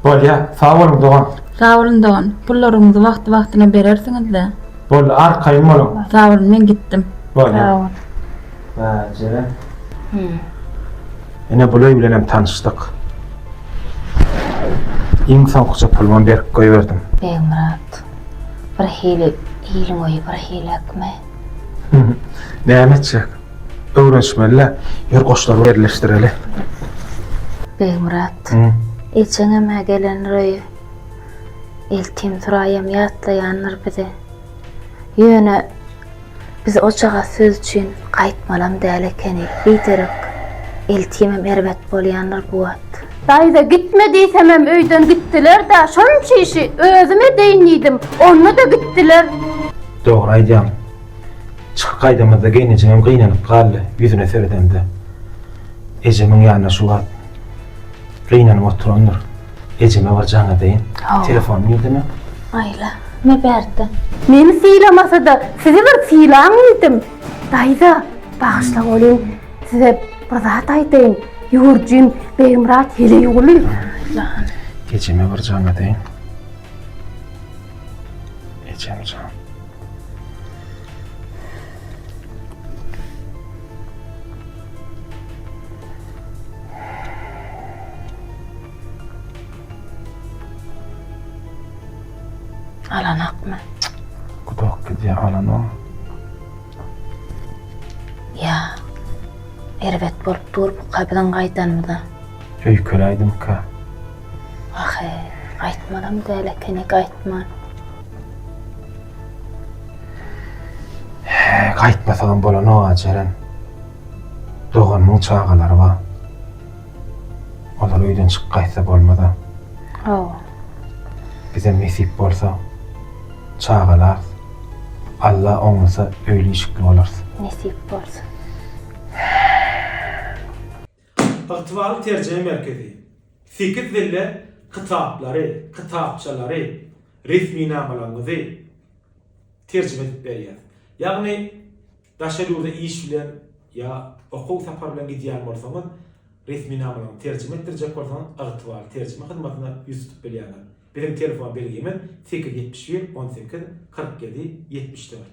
Bolya sag boluň dogan. Sag bolun dogan. Pullaryňyzy wagty wagtyna berersiňizda. Boldy arkaýyn boluň. Sag bolun men gitdim. Bolya. Sag bol. Bajere. Ine bul öý bilenem tanyşdyk. Iň soňkuja pulumam berip goýberdim. Begmyrat. Birhili iliň öýi birhiläkmi? Näme etjek? Öwrenişmeli-le. Ýör goşlaryňy ýerleşdireli. Begmyrat. Ejeňem-ä gelendir öýe. Eltim Suraýam ýatlaýandyr bizi. Ýöne biz ojagaz söz üçin gaýtmalam däl ekeni. Biderek Eltimem erbet bolýandyr bu wagt. Daýza gitme diýsemem öýden gitdiler-dä. Şonça işi özüm edeýin diýdim. Onda-da gitdiler. Dogry aýdýaň. Çykyp gaýdamyzda geýnejemem gynanyp galdy, ýüzüne seredemde, ejemiň ýanyna şu wagt gynanyp oturandyr. Ejeme bir jaň edeýin. Hawa. Telefony nirde-me? Aýla, me bärde. Meni sylamasa-da, sizi bir sylaň diýdim. Daýza, bagyşla welin, size bir zat aýdaýyn. Ýurjym Begmyrat heleýguly. Jan. Ejeme bir jaň edeýin. Ejem jan. Alanakmy? Gudak gidýär alanok. Ýa. Erbet bolup dur bu kabyzyň gaýdanymyza. Öýkeläýdimka. Ahy, gaýtmalam däl ekeni, gaýtman. Gaýtmasagam bolanok-a Jeren. Doganymyň çagalary bar. Olar öýden çykyp gaýtsa bolmaz-a. Hawa. Bizem nesip bolsa çagalarys. Alla oňlasa öýli-işikli bolarys. Nesip bolsa. Ygtybarly terjime merkezi sekiz dilde kitaplary, kitapçalary, resminamalaryňyzy terjime edip berýär. Ýagny daşary ýurda iş bilen ýa okuw sapary bilen gidýän bolsaňyz, resminamalaryňyzy terjime etdirjek bolsaňyz, ygtybarly terjime hyzmatyna ýüz tutup bilýärler. Biziň telefon belgimiz sekiz ýüz ýetmiş bir on sekiz kyrk ýedi ýetmiş dört.